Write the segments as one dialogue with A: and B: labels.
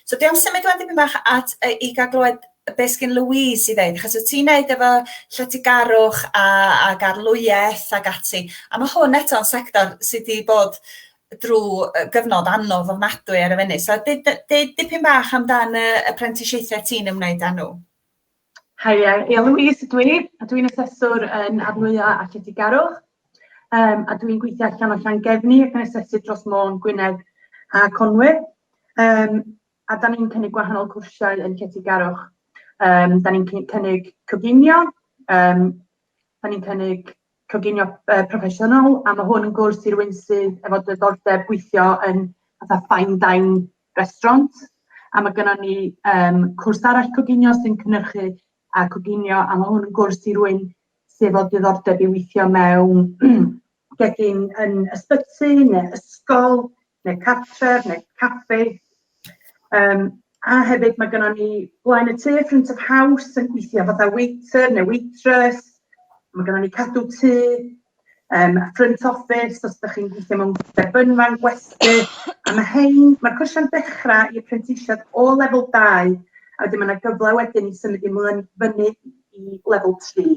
A: So dwi am symud wan dipyn bach at yy i ga'l glywed be' sgin Louise i ddeud achos wyt ti'n neud efo lletygarwch a ag arlwyaeth ag ati a ma' hwn eto'n sector sy 'di bod drw yy gyfnod anodd ofnadwy ar y funud so deu- deu- dipyn bach amdan y y prentisiaethe ti'n ymwneud â nhw. Haia,
B: ia Louise ydw i, a dwi'n aseswr yn Arnwya a Lletygarwch, um, a dwi'n gweithio allan o Llangefni ac yn asesu dros Môn, Gwynedd a Conwy. Um, a da ni'n cynnig gwahanol cwrsiau yn Lletygarwch. Um, da ni'n cynnig coginio, um, da ni'n cynnig coginio yy proffesiynol a ma' hwn yn gwrs i rywun sydd efo diddordeb gweithio yn fatha fine dine restaurant a ma' gynnon ni yym cwrs arall coginio sy'n cynhyrchu a coginio a ma' hwn yn gwrs i rywun sydd efo diddordeb i weithio mewn gegin yn ysbyty ne' ysgol neu cartref, neu caffi. Um, a hefyd mae gennym ni blaen y tŷ, front of house, yn gweithio fatha waiter neu waitress. Mae gennym ni cadw tŷ, um, front office, os ydych chi'n gweithio mewn debynfan, gwesty. A mae hyn, mae'r cwrsiau'n dechrau i apprentisiad o lefel 2, a wedyn mae yna gyfle wedyn i symud i mlaen fyny i lefel 3.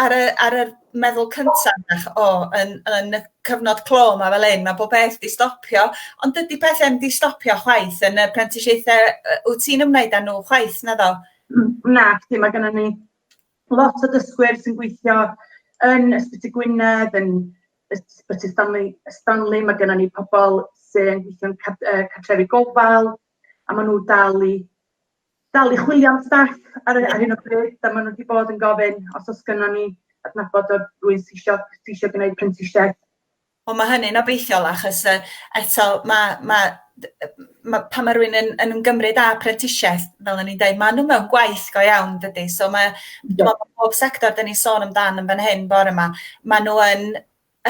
A: Ar y ar yr meddwl cynta' 'na ch- o yn yn y cyfnod clo 'ma fel 'yn ma' bob peth 'di stopio ond dydi pethe 'im 'di stopio chwaith yn y prentisiaethe yy wt ti'n ymwneud â nhw chwaith naddo? Hmm nacdi
B: ma' gynnon ni lot o dysgwyr sy'n gweithio yn Ysbyty Gwynedd yn Ysbyty Stanley Stanley ma' gynnon ni pobol sy'n gweithio'n car- yy cartrefi gofal a ma' nhw dal i dal i chwilio am staff ar y- ar hyn o bryd, a maen nhw wedi bod yn gofyn os oes gynnon ni adnabod o'r rwy'n sy isio, sy isio gwneud prentisiaeth. Wel mae hynny'n
A: obeithiol achos uh, eto mae, mae ma, pan mae rhywun yn, yn ymgymryd â prentisiaeth, fel o'n i'n dweud, maen nhw mewn gwaith go iawn, dydy? So mae, yeah. bob sector dyn ni'n sôn amdan yn fan hyn bore yma, maen nhw yn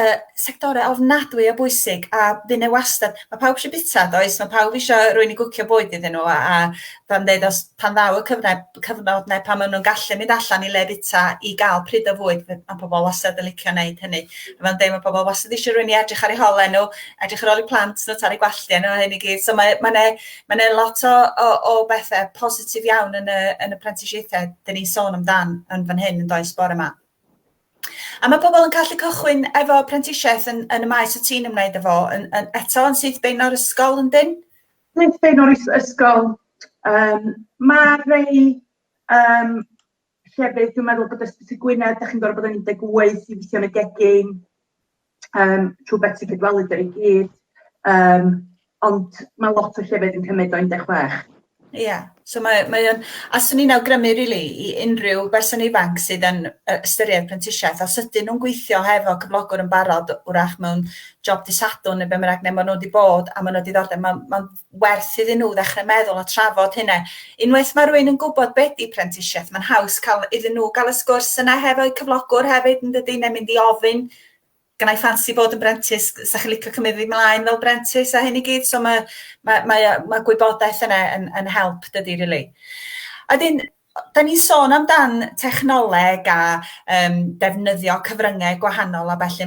A: y sectorau ofnadwy o bwysig a fy' 'na wastad... Mae pawb eisiau bwyta does, mae pawb eisiau rhywun i gwcio bwyd iddyn nhw a a fel yn deud os... pan ddaw y cyfle cyfnod 'na pan ma' nhw'n gallu mynd allan i le bwyta i gael pryd o fwyd fe- ma' pobl wastad yn licio wneud hynny a fel yn deud ma' pobl wastad eisiau rhywun i edrych ar eu hole nhw, edrych ar ôl eu plant nhw, torri gwallt nhw a hyn i gyd so mae mae 'na mae 'na lot o o o bethe positif iawn yn y yn y prentisiaethau 'dyn ni'n sôn amdan yn fan hyn yn does bore 'ma. A mae pobl yn gallu cychwyn efo prentisiaeth yn, yn y maes o ti'n ymwneud efo, yn, yn, eto yn syth bein o'r ysgol yn dyn? Syth bein o'r
B: ysgol. Um, mae rei um, llefydd, dwi'n meddwl bod ysbyty Gwynedd, da chi'n gorfod bod yn 18 i weithio yn y gegin. um, trwy beth sy'n cydwelu dy i gyd, um, ond mae lot o llefydd yn cymryd o 16. Ie, yeah.
A: so mae, mae o'n, a swn i'n awgrymu rili really, i unrhyw berson ifanc sydd yn ystyried prentisiaeth, os ydyn nhw'n gweithio hefo cyflogwr yn barod, wrach mewn job disadwn neu be mae'n rhaid, neu maen nhw wedi bod a maen nhw wedi ddordeb, mae'n ma werth iddyn nhw ddechrau meddwl a trafod hynna. Unwaith mae rhywun yn gwybod be di prentisiaeth, mae'n haws cael iddyn nhw gael y sgwrs yna hefo'u cyflogwr hefyd yn dydy, neu mynd i ofyn, gynnau ffansi bod yn brentis, sa chi'n licio cymryd fi mlaen fel brentis a hyn i gyd, so mae, mae, mae, mae gwybodaeth yna yn, yn help dydy, rili. Really. A dyn, da ni'n sôn amdan technoleg a um, defnyddio cyfryngau gwahanol a felly